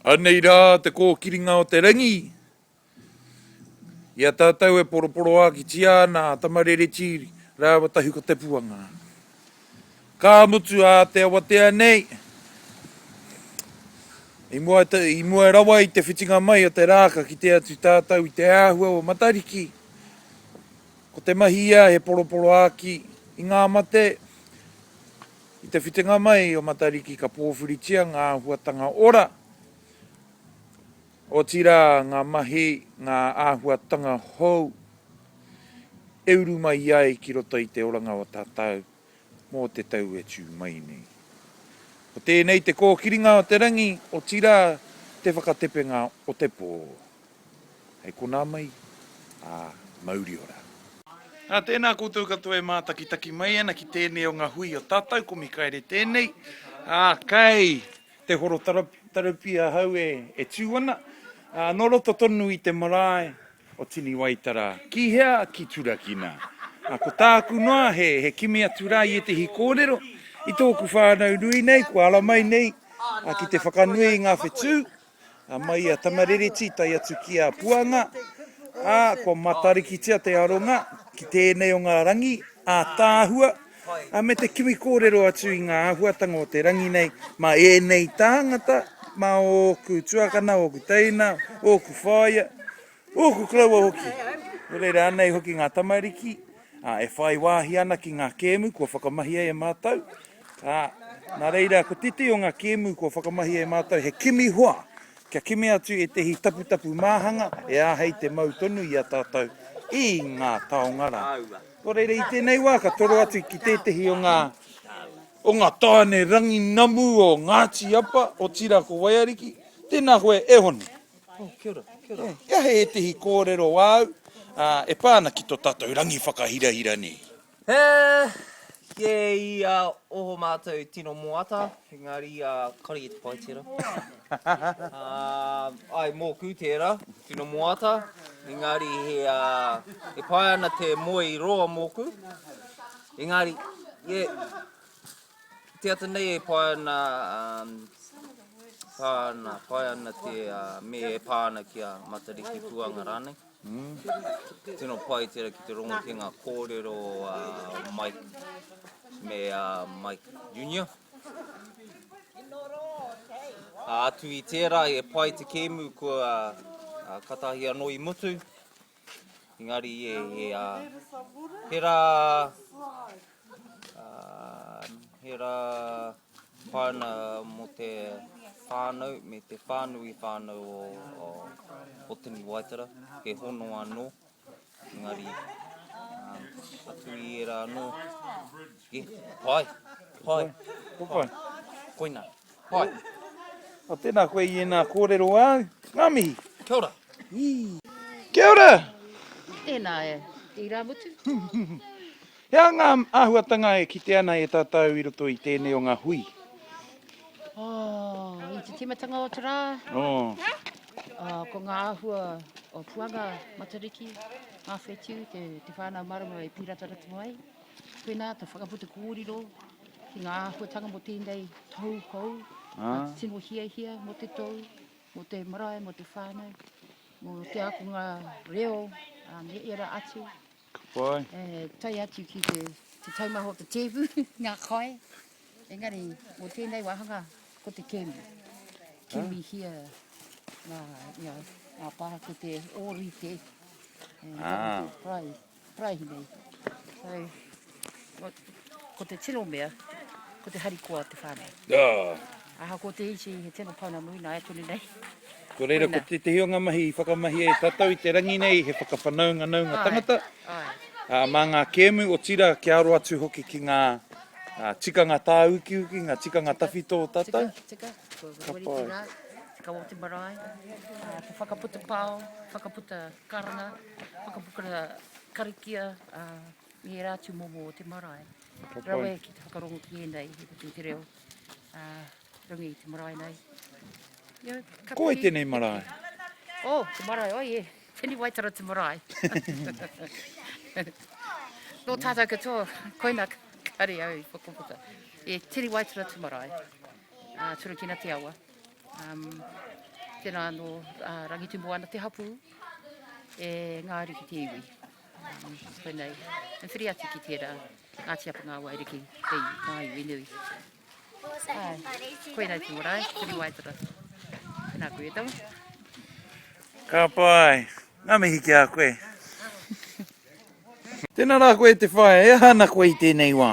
Anei rā te kōkiringa o te rangi. I a tātou e poroporoākitia ana a Tamarereti rāua Tahu ko te puanga. Ka mutu ā te awatea nei, i mua rawa i te whitinga mai o te rā ka kite atu tātou i te āhua o Matariki. Ko te mahi ia he poroporoāki i ngā mate. I te whitinga mai o Matariki ka pōwhiritia ngā āhuatanga ora, otirā ngā mahi, ngā āhuatanga hou e uru mai ai ki roto i te oranga o tātau mō te tau e tū mai nei. Ko tēnei te kōkiringa o te rangi, otirā te whakatepenga o te pō. Hei konā mai, ā, mauri ora. Nā, tēnā koutou katoa e mātakitaki mai ana ki tēnei o ngā hui o tātou, ko Mikaere tēnei, ā, kei te horo tarupi ahau e tū ana, ā, nō roto tonu i te marae o Tiniwaitara. Ki hea? Ki Turakina. Ā, ko tāku noa he kimi atu rā i ētehi kōrero i tōku whānau nui nei, kua ara mai nei ki te whakanui i ngā whetū, Ā, mai i a Tamaririti tae atu ki a Puanga, ā, kua matarikitia te aronga ki tēnei o ngā rangi ātaahua, ā, me te kimi kōrero atu i ngā āhuatanga o te rangi nei mā ēnei tāngata, mā ōku tuakana, ōku teina, ōku whaea, ōku koroua hoki. Nō reira, anei hoki ngā tamariki, ā, e whai wāhi ana ki ngā kēmu kua whakamahia e mātou. Ā, nā reira, ko tētehi o ngā kēmu kua whakamahia e mātou he kimi hoa, kia kimi atu ētehi taputapu māhanga e āhei te mau tonu i a tātou i ngā taonga rā. Nō reira, i tēnei wā ka toro atu ki tētehi o ngā, o ngā tāone rangi namu o Ngāti Apa, otirā ko Waiariki. Tēnā koe e Hone. Oh, kia ora, kia ora. He aha ētehi kōrero āu, ā, e pā ana ki tō tātou rangi whakahirahira nei? He kē i a oho mātou tino moata, engari kare i te pai tērā. Āe, mōku tērā, tino moata, engari e pai ana te moe i roa mōku. Engari, e te ata nei e pai ana, pai ana, pai ana te me e pā ana ki a Matariki Puanga rānei. Tino pai tera ki te rongo ki nga korero a Mike me a Mike Junior. A atu i tera e pai te kemu kua katahi ano i mutu. Engari e he ra he ra Whāinga mō te whānau me te whānui whānau o Otini Waitara, he hono anō, engari atu i ērā anō, e, pai, pai, pai, koinā, pai. Nō tēnā koe i ēnā kōrero āu, ngā mihi. Kia ora. Kia ora! Tēnā e, irāmutu. Hea ngā āhuatanga e kite ana e tātou i roto i tēnei o ngā hui? Oh, i te tīmatanga o te rā. Oh. Uh, ko ngā āhua o Puanga, Matariki, ngā whetiu, te, te whānau marama e pīrata ratu mai. Pēnā, te whakaputa kōriro ki ngā āhuatanga mo tēnei tau hou, ah. tino hiahia mo te tau, mo te marae, mo te whānau, mo te akonga reo, um, e era atu. Ka pai. E tae atu ki te, te taumaha o te tēpu, ngā kai. Engari, mō tēnei wāhanga, ko te kēmu. Kēmi hia ngā, ngā, ngā pāha ki te ōrite. E, ah. Parai, parai nei. So, Ko te tino mea, ko te harikoa o te whānau. Aa. Ahakoa te iti, he tino pauna nui, nāia tonu nei. Ko reira, ko tētehi o ngā mahi i whakamahia e tātou i te rangi nei, he whakawhanaunganaunga tangata, aa, mā ngā kēmu, otirā, kia aro atu hoki ki ngā tikanga tāukiuki, ngā tikanga tawhito o tātou. Tika, tika, ko te wawaritinga, te kawa o te marae, te whakaputa pao, whakaputa karanga, whakaputa karakia, aa. me ērā tūmomo o te marae rawe ki te whakarongo ki ēnei i roto i te reo runga i te marae nei. Ko wai tēnei marae? O, oh, te marae, oi e, tēnei waitara te marae. Nō tātou katoa, koina kare au i whakaputa. E, tēnei waitara te marae, uh, Turukina te awa. Um, tēnā anō uh, Rangitumu ana te hapū, e ngāri ki te iwi. Koinei, and whiri atu ki tērā, Ngāti Apa ngā wairiki, hei, māi, we nui. Koinei te marae, Whiri Waitara. Nā koe e tawa. Ka pai, ngā mihi ki a koe. Tēnā rā koe te whaea, e aha ana koe i tēnei wā?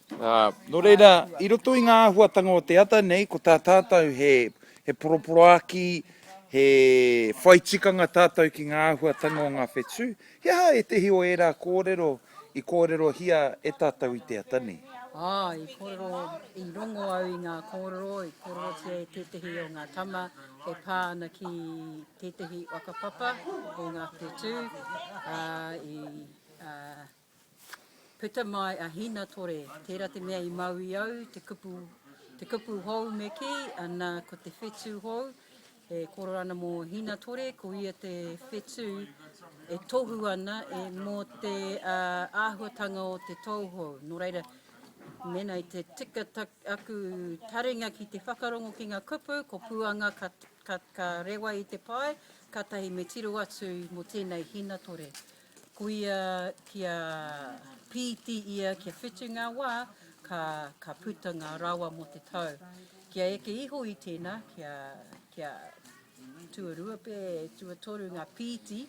Ā, nō reira, i roto i ngā āhuatanga o te ata nei, ko tā tātou he, he poroporoākī, he whai tikanga tātou ki ngā āhuatanga o ngā whetū, he aha ētehi o ērā kōrero i kōrerohia e tātou i te ata nei? Ā, i kōrero, i rongo au i ngā kōrero i kōrerotia e tētehi o ngā tama e pā ana ki tētehi whakapapa o ngā whetū, ā, i, ā, Puta mai a Hinatore, tērā te mea i mau i au, te kupu, te kupu hou me kī, ana, ko te whetū hou, e kōrero ana mō Hinatore, ko ia te whetū e tohu ana e mō te uh, āhuatanga o te tou hou. Nō reira, mēnā i te tika tak, aku taringa ki te whakarongo ki ngā kupu, ko Puanga ka, ka, ka rewa i te pae, kātahi me tiro atu mō tēnei Hinatore. Koia kia pīti ia kia whitu ngā wā, ka, ka puta ngā rawa mō te tau. Kia eke iho i tēnā, kia, kia tuarua pē, tuatoru ngā pīti,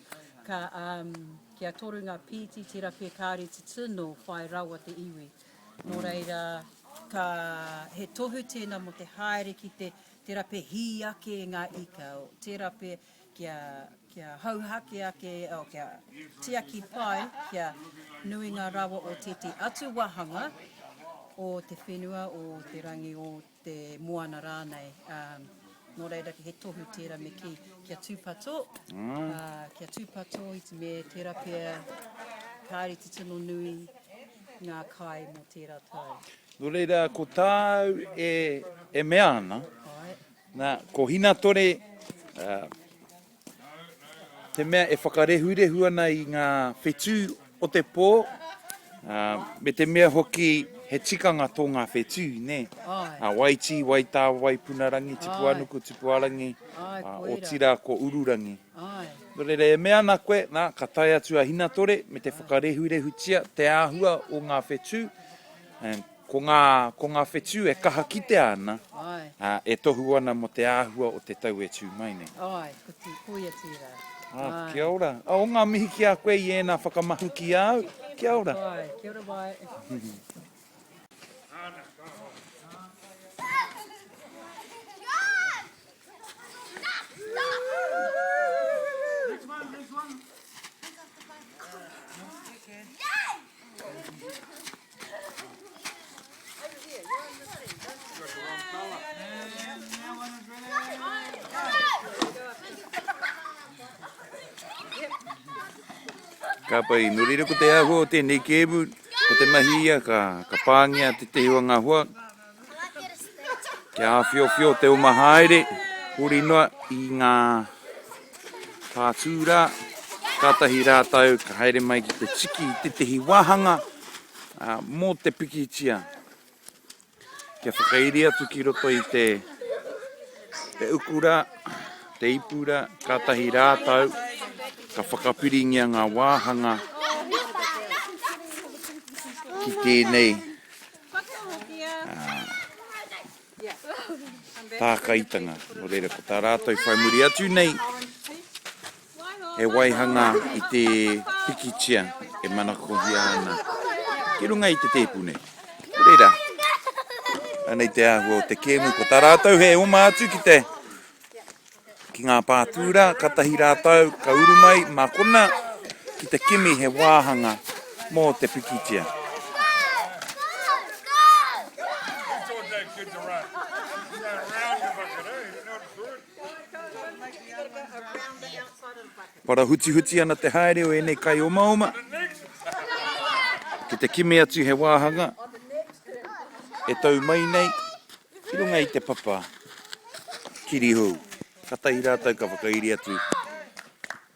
ka, um, kia toru ngā pīti, tērā pē kāre te tino whai rawa te iwi. Nō reira, ka, he tohu tēnā mō te haere ki te, tērā pē hī ake ngā ika, tērā pē, kia, kia hauhake ake, oh, kia tiaki pai, kia nui ngā rawa o tētī atu wāhanga o te whenua, o te rangi, o te moana rānei. Um, nō reira he tohu tērā me kī, kia tūpato, mm. uh, kia tūpato i te me tērā pia, kāri te tino nui ngā kai mō tērā tau. Nō reira, ko tāu e, e mea ana, Nā, ko Hinatore, ā, te mea e whakarehurehu ana i ngā whetū o te pō, ā, me te mea hoki he tikanga tō ngā whetū, nē. Āe. Ā, Waitī, Waitā, Waipunarangi, Tipuanuku, Āe. Tipuarangi, Āe, ā, koira. otirā ko Ururangi. Āe. Nō reira, e mea ana koe, nā, ka tae atu a Hinatore me te whakarehurehutia te āhua o ngā whetū, and, Ko ngā, ko ngā whetū e kaha kitea ana, ā, e tohu ana mō te āhua o te tau e tū mai nei. Āe, ko tī, ko ia tērā. Ā, kia ora. Ā, o ngā mihi ki a koe i ēnā whakamahi ki a au. Kia ora. Āe, kia ora wai. Ka pai, nō reira ko te āhua o tēnei kēmu, ko te mahi ia ka pāngia te tehe o ngā hoa, Kia āwhiowhio te uma haere, huri noa i ngā pātū rā, kātahi rātou ka haere mai ki te tiki i tētehi wāhanga mō te pikitia kia whakairi atu ki roto i te te uku rā, te ipu rā, kātahi rātou ka whakapiringia ngā wāhanga ki tēnei Tākaitanga, nō reira ko tā rātou whai muri atu nei he waihanga i te pikitia e manakohia ana ki runga i te tēpu nei. Nō reira, anei te āhua o te kēmu, ko tā rātou he oma atu ki te. Ki ngā pā tūrā, katahi rātou ka uru mai mā kona ki te kimi he wāhanga mō te pikitia. Parahutihuti ana te haere o ēnei kai omaoma ki te kimi atu he wāhanga e tau mai nei. Ki runga i te papa kirihou, katahi rātou ka whakairi atu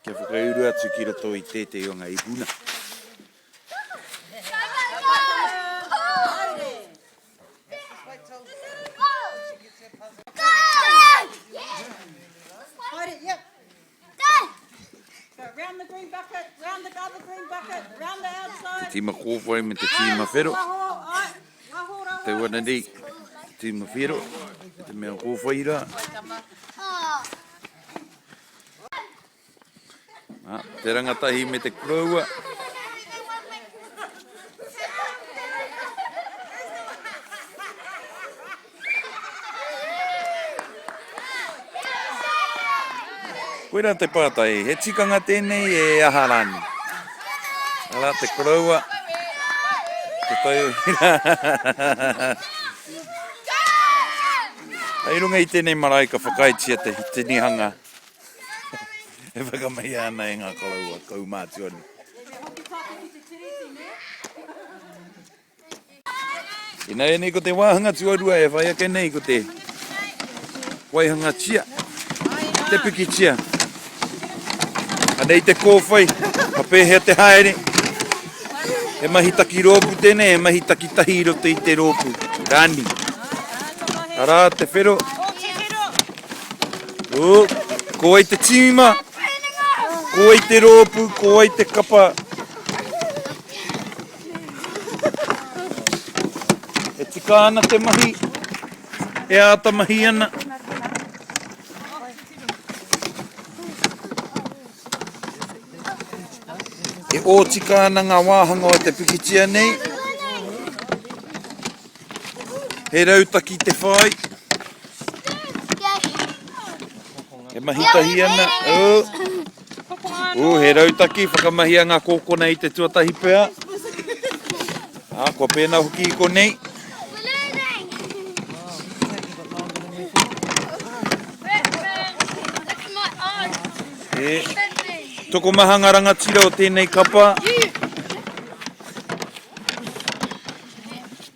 kia whakauru atu ki roto i tētehi o ngā ipuna. Te tīma kōwhai me te tīma whero. Te wana nei, te tīma whero, te mea kōwhai rā. Te rangatahi me te koroua. Koira te pātai, he tikanga tēnei e aha rānei? Arā te koroua, te tauira. Hei runga i tēnei marae ka whakaaetia te tinihanga e whakamahia ana e ngā koroua kaumātua nei. Ināianei ko te wāhanga tuarua e whai ake nei ko te waihangatia, te pikitia. Anei te kōwhai, ka pēhea te haere? He mahi taki rōpū tēnei, he mahi takitahi i roto i te rōpū, rani. Arā te whero. Ū, ko ai te tīma, ko ai te rōpū, ko ai te kapa. E tika ana te mahi, e āta mahi ana. E ōtika ana ngā wāhanga o te pikitia nei. He rautaki te whai. E mahi tahi ana. Oh. Ooh, he rautaki, whakamahia ngā kōkona i te tuatahi pea. Ah, kua pēnā hoki i konei. E, tokomaha ngā rangatira o tēnei kapa.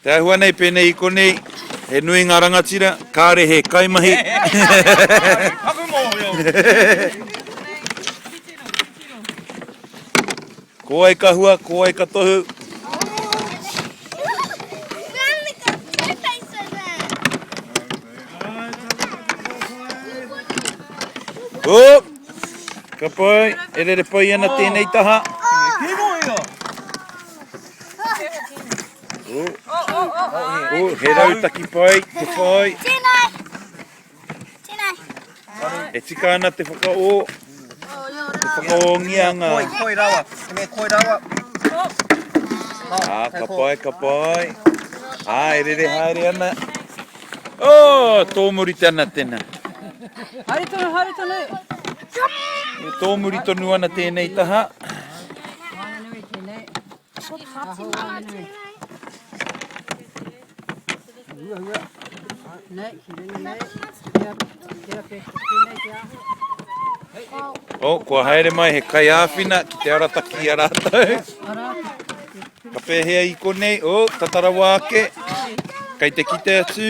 Te āhua nei pēnei i konei, he nui ngā rangatira, kāre he kaimahi. Paku mōhio! Ko wai ka hua, ko wai ka tohu. Oop! Ka pai, e rere pai ana tēnei taha. Tēnei kino ia! He rautaki pai, te whai. Tēnei! Tēnei! E tika ana te whakaō. Te whakaōngia ngā. Koi, koi rawa. Tēnei, koi rawa. Ā, ka pai, ka pai. Ā, e rere haere ana. Ō, tōmuri tana tena. Haere tonu, haere tonu. E tōmuri tonu ana tēnei taha. Waenganui tēnei. Aho waenganui. Hua hua. Nei, ki ringa nei. Kia, kia pe, tēnei te aho. Oh, kua haere mai he kai āwhina ki te arataki a rātou. Ka pēhea i konei, oh, tatarawa ake. Kei te kite atu.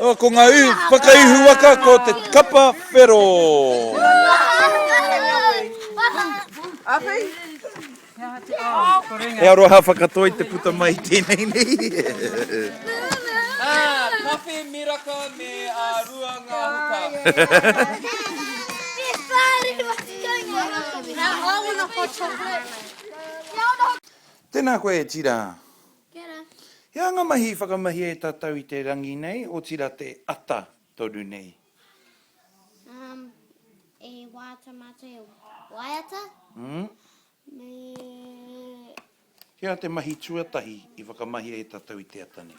Oh, ko ngā ihu, whakaihu waka, ko te kapa whero. He aroha whakatoi te puta mai tēnei nei. Ah, kawhe miraka me a rua ngā huka. Tēnā koe e Tira. Kia ora. He angamahi i whakamahia e tatou i te rangi nei, otira te ata tonu nei. Um, e waiata matou e waiata. Mm. Me. He aha te mahi tuatahi i whakamahia e tatou i te ata nei?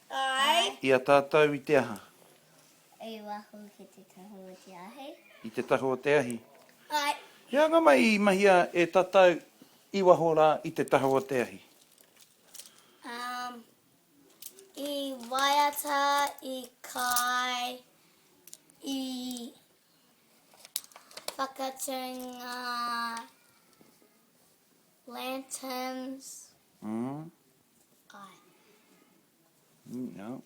Ae. I a tatou i te aha? I waho ki te tahu o te ahi. I te tahu o te ahi. Ae. He anga mai i mahia e tatou i waho ra i te tahu o te ahi? Um, i waiata, i kai, i whakatūnga. Lanterns. Mm. Kai. Mm, yeah.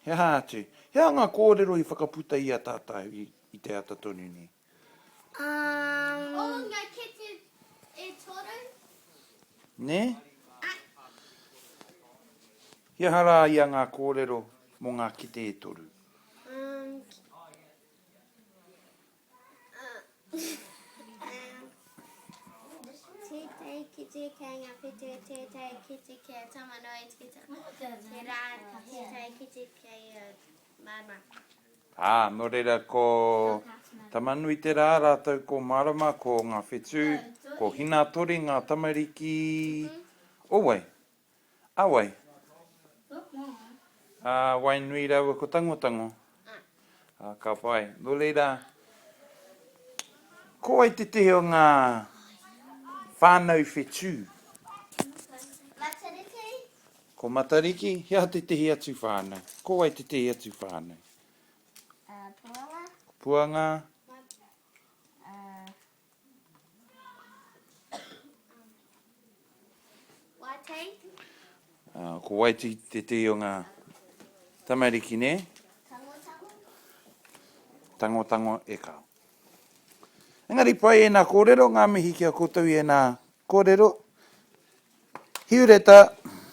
He aha atu? He aha ngā kōrero i whakaputa i a tātou i, i te ata tonu nei? Um... Oh, ngā kete e toru. Ne? Ah. He aha rā ia ngā kōrero mō ngā kete e toru? Um... Tētahi kite kei ngā whetū, tētahi kite kei a Tamanui Tito, tērā tētahi kite kei a Marama. Ā, nō reira ko Tamanui tērā rātou ko Marama ko ngā whetū, ko Hinatori ngā tamariki o wai? A wai? A wai nui raua ko Tangotango? A ka pai. No reira, ko wai te tehe o nga whanau whetu? Matariki. Ko Matariki? He aha te tehe atu whanau? Ko wai te tehe atu whanau? Puanga. Puanga. Ko Waiti tētehi o ngā tamariki nē? Tangotango e kau. Engari pai ēnā kōrero, ngā mihi ki a koutou i ēnā kōrero. Hiureta.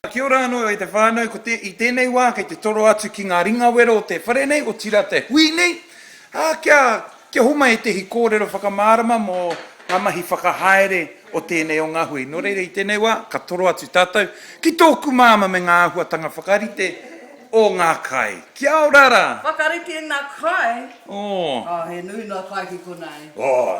Kia ora anō e te whānau, ko te, i tēnei wā kei te toro atu ki ngā ringawero o te whare nei, otirā te hui nei, ā, kia, kia homai ētehi kōrero whakamārama mō ngā mahi whakahaere o tēnei o ngā hui. Nō reira i tēnei wā, ka toro atu tātou ki tōku māmā me ngā āhuatanga whakarite o ngā kai. Kia ora rā! Whakarite i ngā kai? Oh. Oh, he nui noa kai ki konā e. Oh.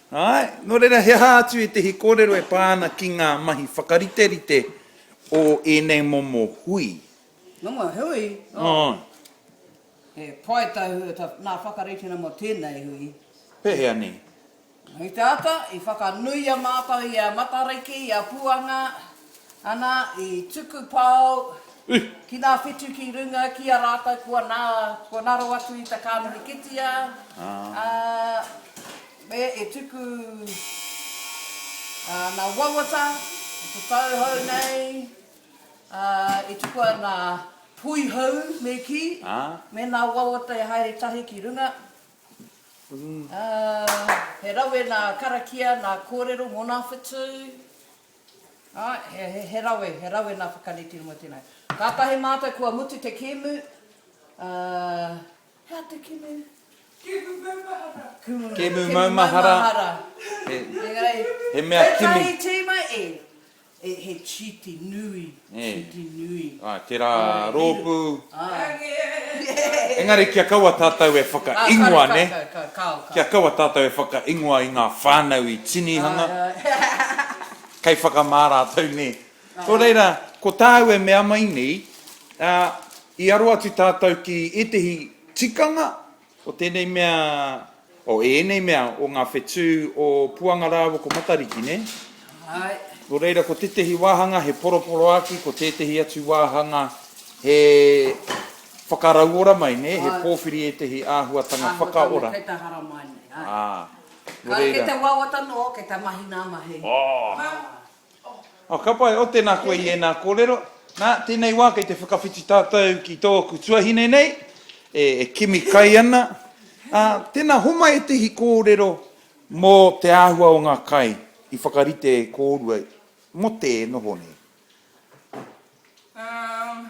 Āe, nō reira he aha atu ētehi kōrero e pā ana ki ngā mahi whakariterite o ēnei momo hui? Momo hui? Oh. Oh. He pai tau hui, nā whakarite ana mō tēnei hui. Pēhea nei? I te ata, i whakanuia mātou i a Matariki, i a Puanga, Ana, i tuku pao ki nga whitu ki runga ki a ratou kua na, kua naro atu i ta kamene kitia, a, me e tuku, a, na wawata, i te tau hou nei, a, i tukua na hui hou me ki, me na wawata e haere tahi ki runga, a, he rawe na karakia na korero mo na whitu, Ā, he rawe, he rawe nā Whakarite mō tēnei. Kātahi mātou kua mutu te kēmu, ā, he aha te kēmu? Kēmu maumahara. Kēmu, kēmu maumahara. He, he mea kimi. Whakarite mai e, e, he chiti nui. Titi nui. Āe, tērā rōpū. Engari kia kaua tātou e whakaingoa, nē? Kia kaua tātou e whakaingoa i ngā whānau i tinihanga, kei whakamā rātou, nē? Nō reira, ko tāu e mea mai nei, i aro atu tātou ki ētehi tikanga O tēnei mea, o ēnei mea o ngā whetū o Puanga rāua ko Matariki, nē? Āe. Nō reira, ko tētehi wāhanga he poroporoāki, ko tētehi atu wāhanga he whakarauora mai, nē? He pōwhiri ētehi āhuatanga whakaora. Āhuatanga kei te haramai nei, āe. Ā, nō reira. Kei te wawata noa, kei te mahi nā mahi. Ā! Oh, ka pai, oh, tēnā koe i ēnā kōrero. Nā, tēnei wā kei te whakawhiti tātou ki tōku tuahine nei, e, e kimi kai ana. Ā, tēnā, homai ētehi kōrero mō te āhua o ngā kai i whakarite e kōrua mō tē noho nei. Um.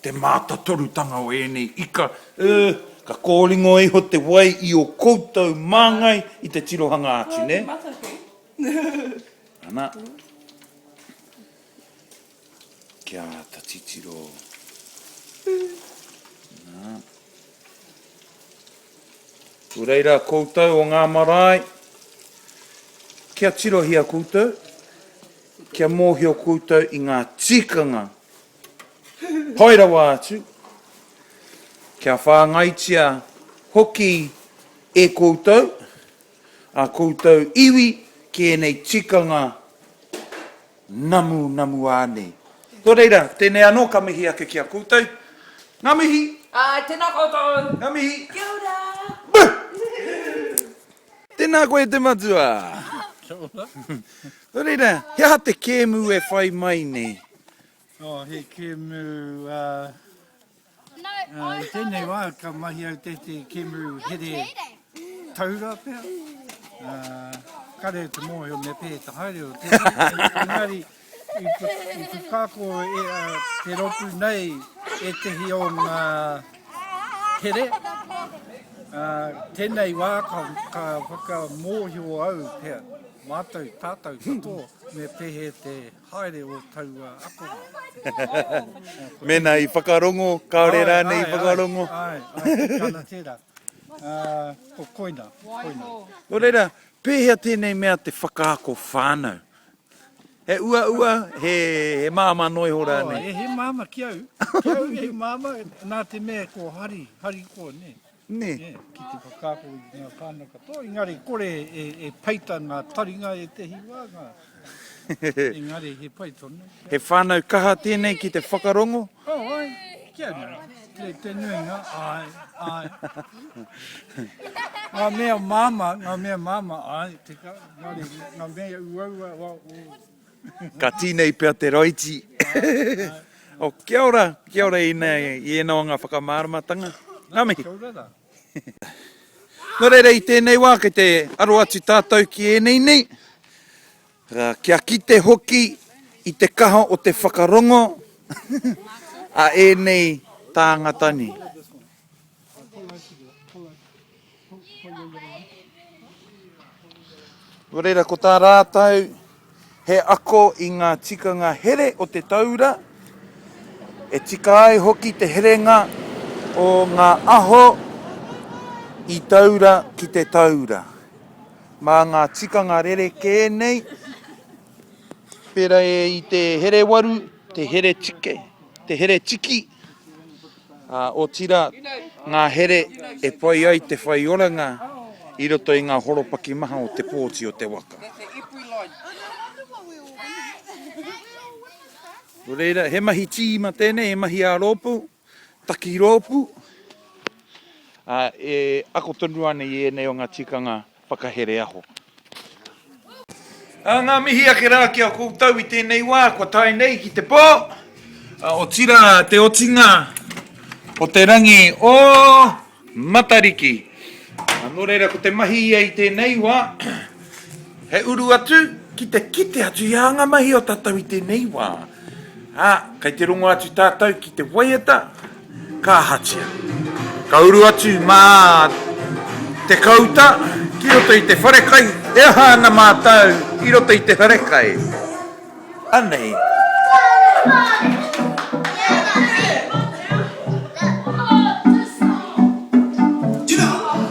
Te mātatorutanga o ēnei ika, ē, ka kōringo iho te wai i ō koutou māngai i te tirohanga atu, nē? Ana. Kia āta titiro. Nā. Nō reira koutou o ngā marae, kia tirohia koutou, kia mōhio koutou i ngā tikanga Pai rawa atu, kia whāngaitia hoki e koutou, ā koutou iwi ki ēnei tikanga namunamu ānei. Nō reira, tēnei anō ka mihi ake ki a koutou. Ngā mihi! Āe, tēnā koutou! Ngā mihi! Kia ora! Buh! Tēnā koe te matua! Kia ora! Nō reira, he aha te kēmu e whai mai nei? Oh, he kemu, uh, no, uh, i tēnei wā ka mahi au te te kemu here taura pia. Uh, kare te mōhio me pē te haere o te engari i, i pukako e, uh, te ropu nei e tehi o ngā here. Uh, tēnei wā ka, ka whakamōhio au pia mātou tātou katoa me pēhe te Haere o taua akonga. Mena i whakarongo, kaore rane i whakarongo. Ai, ai, ai, tana tera. Ko koina, koina. No reira, pehea tenei mea te whakaako whanau? He ua ua, he mama noe ho rane? He mama ki au, ki au he mama, na te mea ko hari, hari ko ne. Nē. Ki te whakaako i ngā whānau katoa, engari kore e peita ngā taringa ētehi wā, engari he pai tonu. He whānau kaha tēnei ki te whakarongo? Oh, ai, kia riro. Kei te nuinga, āe, āe. Ngā mea māmā, ngā mea māmā, āe, tekau, engari ngā mea uaua, wā, ō. Ka tinei pea te raiti. Oh, kia ora, kia ora i ena o nga whakamaramatanga. Nga mihi. Kia ora ra. No reira i tenei wa kei te aro atu tatou ki enei nei, kia kite hoki i te kaha o te whakarongo a enei tangata ni. Nō reira, ko tā rātou, he ako i ngā tikanga here o te taura, e tika ai hoki te herenga o ngā aho i taura ki te taura, mā ngā tikanga rerekē nei, pērā i te herewaru, te heretike, te heretiki. ā, otirā, ngā here e pai ai te whai oranga i roto i ngā horopaki maha o te pōti o te waka. Nō reira, he mahi tīma tēnei, he mahi ā-rōpū, takirōpū, ā, e ako tonu ana i ēnei o ngā tikanga Whakahere aho. Ā, ngā mihi ake rā ki a koutou i tēnei wā kua tae nei ki te pō, ā, otirā te otinga o te rangi o Matariki. Ā, nō reira ko te mahi ia i tēnei wā, he uru atu ki te kite atu i ā ngā mahi o tātou i tēnei wā. Ā, kei te rongo atu tātou ki te waiata. Ka ahatia? Ka uru atu mā te kauta ki roto i te wharekai, e aha ana mātou i roto i te wharekai? Anei.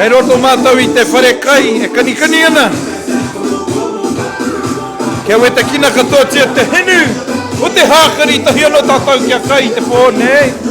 Kei roto mātou i te whare kai e kanikani ana. Kia wetakina katoatia te hinu o te hākari tahi anō tātou kia kai i te pō nei.